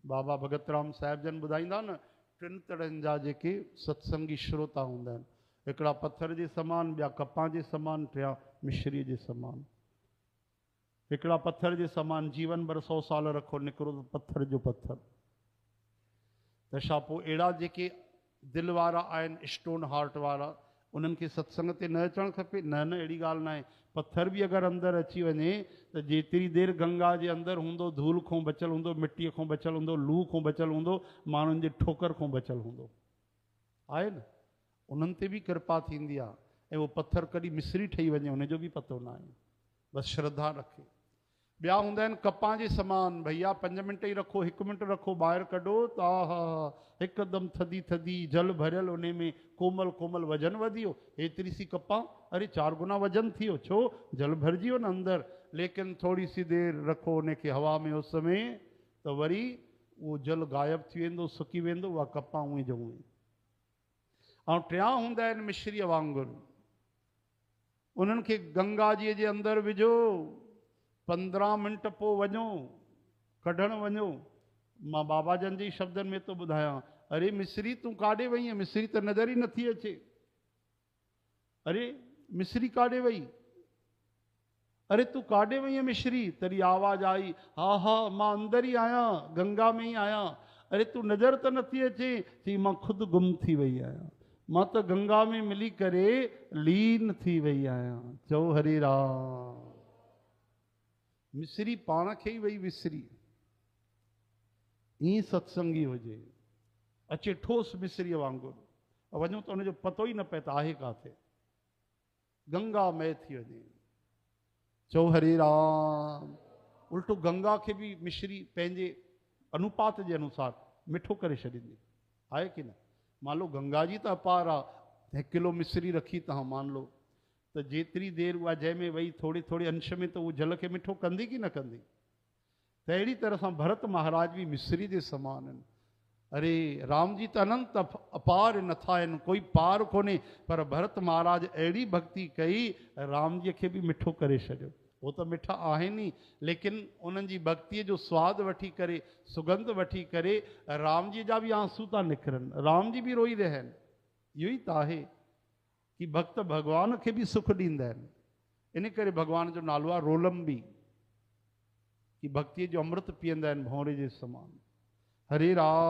بابا ڀڳت رام صاحب جن ٻڌائيندا نه ٽن طرحن جا جيڪي ستسنگي شروتا هوندا آهن هڪڙا پٿر جي سمان ٻيا ڪپان جي سمان ٽيان مشري جي سمان هڪڙا پٿر جي سمان جيون ڀر سو سال رکو نڪرو ته پٿر جو پٿر تنهن کان پوء اهڙا جيڪي دل وارا آهن اسٽون هارٽ وارا انهن کي ستسنگ تي نه اچڻ کپي؟ نه نه اهڙي ڳالهه ناهي پٿر به اگر اندر اچي وڃي ته جيتري دير گنگا جي اندر هوندو ڌول کون بچل هوندو مٽي کون بچل هوندو لوهه کون بچل هوندو ماڻهن جي ٺوڪر کون بچل هوندو آهي نه انهن تي به ڪرپا ٿيندي آهي ۽ اهو پٿر ڪڏهن مصري ٺهي وڃي ان جو به پتو ناهي بس شرڌا رکي ٻيا هوندا آهن ڪپان جي سمان، ڀئيا پنج منٽ ئي رکو، هڪ منٽ رکو، ٻاهر ڪڍو ته آهاها هڪدم ٿڌي ٿڌي جل ڀريل انهي ۾ ڪومل ڪومل وزن وڌيو، هيتري سي ڪپان، اري چار گنا وزن ٿيو، ڇو؟ جل ڀرجي ويو نه اندر، ليڪن ٿوري سي دير رکو انهي کي هوا ۾ اس ۾ ته وري اهو جل غائب ٿي ويندو، سڪي ويندو، اها ڪپان اونهي جو اونهي. ۽ ٽيان هوندا آهن مشريء وانگر. انهن کي گنگا جيء جي اندر وجهو، پندرهن منٽ پوء وڃو، ڪڍڻ وڃو. مان بابا جن جي شبدن ۾ ٿو ٻڌايان. اري مصري تون ڪاڏي وئينء؟ مصري ته نظر ئي نٿي اچي. اري مصري ڪاڏي وئي؟ اري تون ڪاڏي وئينء مشري؟ تڏهن آواز آئي، ها ها مان اندر ئي آهيان، گنگا ۾ ئي آهيان. اري تون نظر ته نٿي اچين؟ چئي مان خود گم ٿي وئي آهيان. مان ته گنگا ۾ ملي ڪري لين ٿي وئي آهيان. چئو هري رام. مشري پاڻ کي ئي وئي وسري. ائين ستسنگي هجي. اچي ٺوس مشريء وانگر وڃون ته ان جو پتو ئي نه پئي ته آهي ڪاٿي. گنگا مئي ٿي وڃي چئو هري رام الٽو گنگا کي به مشري پنهنجي انوپات جي انوسار مٺو ڪري ڇڏيندي آهي ڪي نه مان لو گنگا جي ته اپار آ هڪ ڪلو مصري رکي تهان مان لو ته جيتري دير اها جنهن ۾ وئي ٿوري ٿوري انش ۾ ته اهو جل کي مٺو ڪندي ڪي نه ڪندي تهڙي طرح سان ڀرت مهاراج به مصري جي سمان هن. اري رام جي ته اننت اپار نٿا هن ڪوئي پار ڪونهي پر ڀرت مهاراج اهڙي ڀڳتي ڪئي رام جي کي به مٺو ڪري ڇڏيو. هو ته مٺا آهن ئي ليڪن انهن جي ڀڳتي جو سواد وٺي ڪري سگنڌ وٺي ڪري رام جي جا به آنسو ٿا نڪرن رام جي به روئي رهيا آهن اهو ئي ته آهي هي ڀڳت ڀڳوان کي به سک ڏيندا آهن، ان ڪري ڀڳوان جو نالو آهي رولنبي. هي ڀڳتيء جو امرت پيئندا آهن ڀونري جي سمان. هري راء.